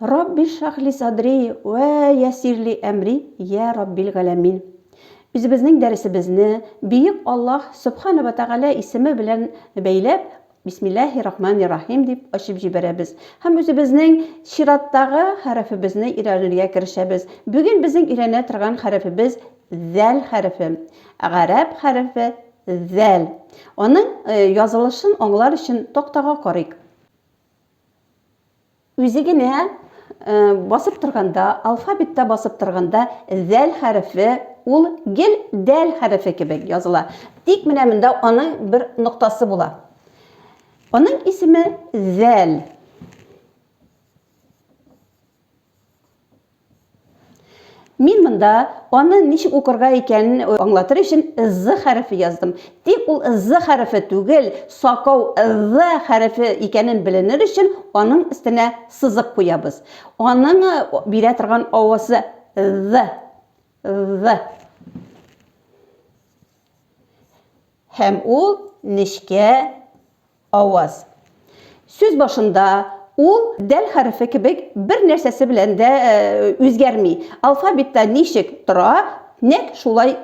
Рабби ишрах ли садри вә яссир ли әмри, йә Раббил галәмин. Үзебезнең дәресебезне Бөек Аллаһ Сөбхана вә Тәгалә исеме белән бәйләп, Бисмиллаһи рахмани рахим дип ачып җибәрәбез һәм үзебезнең чираттагы хәрефебезне өйрәнергә керешәбез. Бүген безнең өйрәнә торган хәрефебез Зәл хәрефе. Гарәп хәрефе Зәл. Аның язылышын аңлар өчен тактага карыйк. Үзе генә басып торганда, алфавитта басып торганда, зәл хәрефе ул гел дәл хәрефе кебек языла. Тик менә монда аның бер ноктасы була. Аның исеме зәл. Мин монда аны ничек укырга икәнен аңлатыр өчен з хәрефе яздым. Тик ул з хәрефе түгел, сакау з хәрефе икәнен беленер өчен аның өстенә сызык куябыз. Аның бирә торган авазы з, з. Һәм ул нечкә Аваз. Сүз башында ул дәл хәрефе кебек бер нәрсәсе белән дә үзгәрми. Алфавитта ничек тора, нәк шулай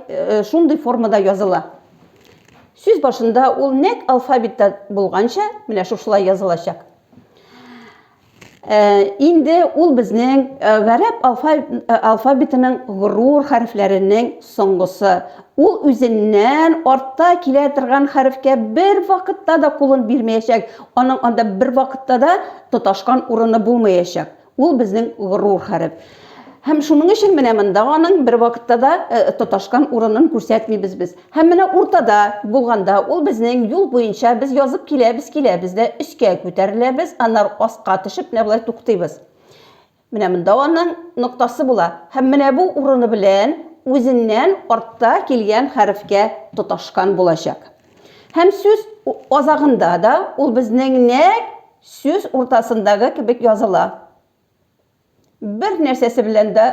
шундый формада языла. Сүз башында ул нәк алфавитта булганча, менә шушылай язылачак. Инде ул безнең гарәп алфавитының горур хәрефләренең соңгысы. Ул үзеннән артта килә торган хәрефкә бер вакытта да кулын бирмәячәк, аның анда бер вакытта да тоташкан урыны булмаячак. Ул безнең горур хәреф. Һәм шуның өчен менә монда аның бер вакытта да э, тоташкан урынын күрсәтмибез без. Һәм менә уртада булганда ул безнең юл буенча без язып киләбез, киләбез дә өскә күтәреләбез, аннары аска төшеп менә болай туктыйбыз. Менә монда аның ноктасы була. Һәм менә бу урыны белән үзеннән артта килгән хәрефкә тоташкан булачак. Һәм сүз азагында да ул безнең нәк сүз уртасындагы кебек языла. Бер нәрсәсе белән дә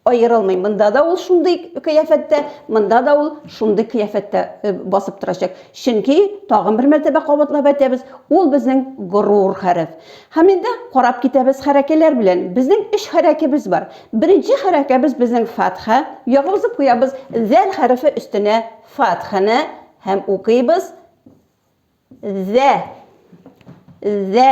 аерылмый. Монда да ул шундый кыяфәттә, монда да ул шундый кыяфәттә э, басып торачак. Чөнки тагын бер мәртәбә кабатлап әйтәбез, ул безнең горур хәреф. Һәм инде карап китәбез хәрәкәләр белән. Безнең өч хәрәкәбез бар. Беренче хәрәкәбез безнең фатха. Ягыбызны куябыз зәл хәрефе өстенә фатханы һәм укыйбыз. Зә. Зә.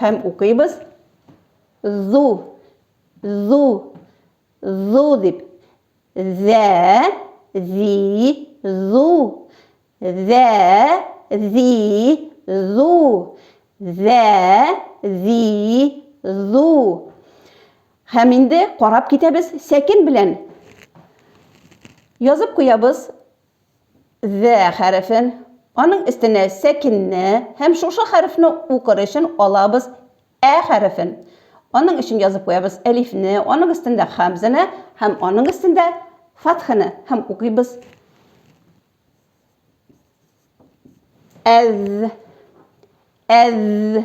Һәм укыйбыз. Зу, зу, зу дип. Зә, зи, зу. Зә, зи, зу. Зә, зи, зу. Һәм инде карап китәбез сәкен белән. Язып куябыз. Вә хәрефен, аның өстенә сәкинне һәм шушы хәрефне укыр өчен алабыз ә хәрефен. Аның өчен язып куябыз әлифне, аның өстендә хәмзәне һәм аның өстендә фатханы һәм укыйбыз. Әз, әз,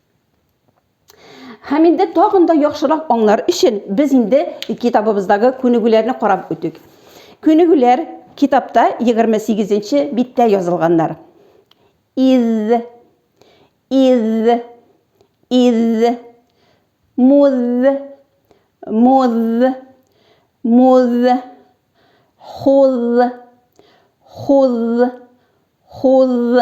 Һәм инде тагын да яхшырак аңлар өчен без инде китабыбыздагы күнегүләрне карап үтик. Күнегүләр китапта 28 нче биттә язылганнар. Из, из, из, муз, муз, муз, хуз, хуз, хуз,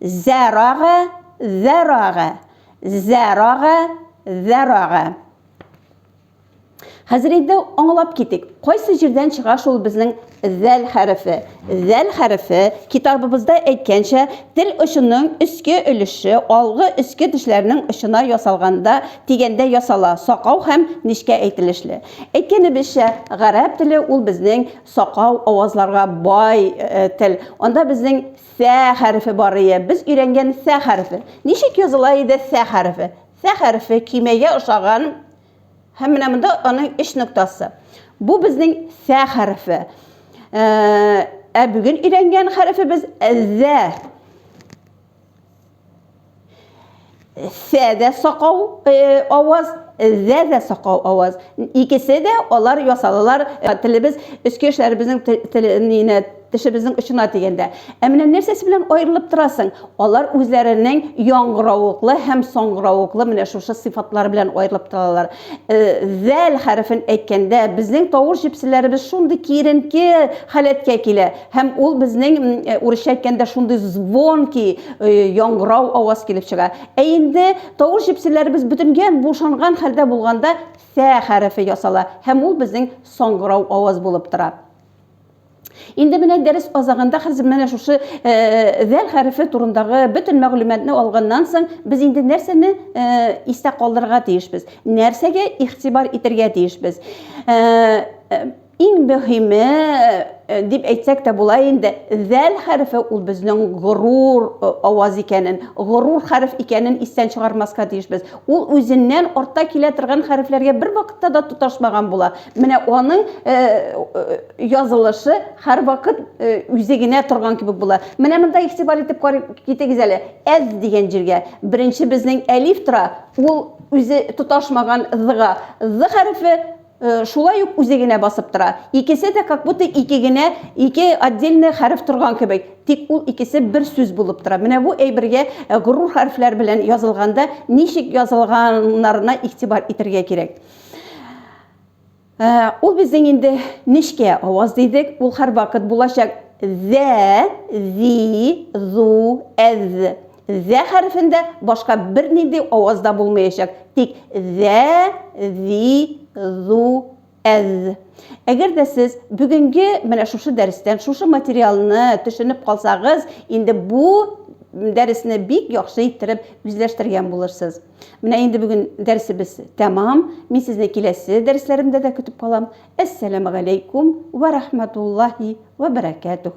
Зәрагә, зәрагә, зәрагә, зәрагә. Хәзер инде аңлап китик, кайсы җирдән чыга шул безнең зәл хәрефе. Зәл хәрефе, китабыбызда әйткәнчә, тел очының өске өлеше алгы өске тешләрнең очына ясалганда, тигәндә ясала, сакау һәм нечкә әйтелешле. Әйткәнебезчә, гарәп теле ул безнең сакау авазларга бай тел. Анда безнең Сә хәрефе барые. Без өйрәнгән сә хәрефе. Ничек языла иде сә хәрефе? Сә хәрефе көймәгә ошаган һәм менә монда аның өч ноктасы. Бу безнең сә хәрефе. Ә бүген өйрәнгән хәрефебез зә. Сә дә сакау э, аваз, зә дә сакау аваз. Икесе дә алар ясалалар э, телебез өске эшләребезнең теле тешебезнең очына дигәндә. Ә менә нәрсәсе белән аерылып торасың? Алар үзләренең яңгыравыклы һәм соңгыравыклы менә шушы сыйфатлары белән аерылып торалар. Зәл хәрефен әйткәндә, безнең тавыш җепселәребез шундый киеренке халәткә килә, һәм ул безнең урысча әйткәндә шундый звонки яңгырау аваз килеп чыга. Ә инде тавыш җепселәребез бөтенгән, бушанган хәлдә булганда, сә хәрефе ясала, һәм ул безнең саңгырау аваз булып тора. Инде менә дәрес азагында хәзер менә шушы зәл хәрефе турындагы бөтен мәгълүматны алганнан соң, без инде нәрсәне истә калдырырга тиешбез? Нәрсәгә игътибар итәргә тиешбез? Иң мөһиме, дип әйтсәк тә була инде, зәл хәрефе ул безнең горур аваз икәнен, горур хәреф икәнен истән чыгармаска тиешбез. Ул үзеннән артта килә торган хәрефләргә бервакытта да тоташмаган була. Менә аның э, э, язылышы һәрвакыт э, үзе генә торган кебек була. Менә монда игътибар итеп карап китегез әле. Әз дигән җиргә беренче безнең әлиф тора, ул үзе тоташмаган з-га. З хәрефе Шулай ук үзе генә басып тора. Икесе дә как будто ике генә, ике отдельный хәреф торган кебек. Тик ул икесе бер сүз булып тора. Менә бу әйбергә горур хәрефләр белән язылганда ничек язылганнарына игътибар итергә кирәк. Ул безнең инде нечкә аваз дидек, ул һәрвакыт булачак. Зә, зи, зу, әз. Зә хәрефендә башка бернинди аваз да булмаячак, тик зә, зи, зу, әз. Әгәр дә сез бүгенге менә шушы дәрестән, шушы материалны төшенеп калсагыз, инде бу дәресне бик яхшы иттереп үзләштергән булырсыз. Менә инде бүген дәресебез тәмам. Мин сезне киләсе дәресләремдә дә көтеп калам. Әссәламәгаләйкүм вә рахматуллаһи вә бәрәкәтүх.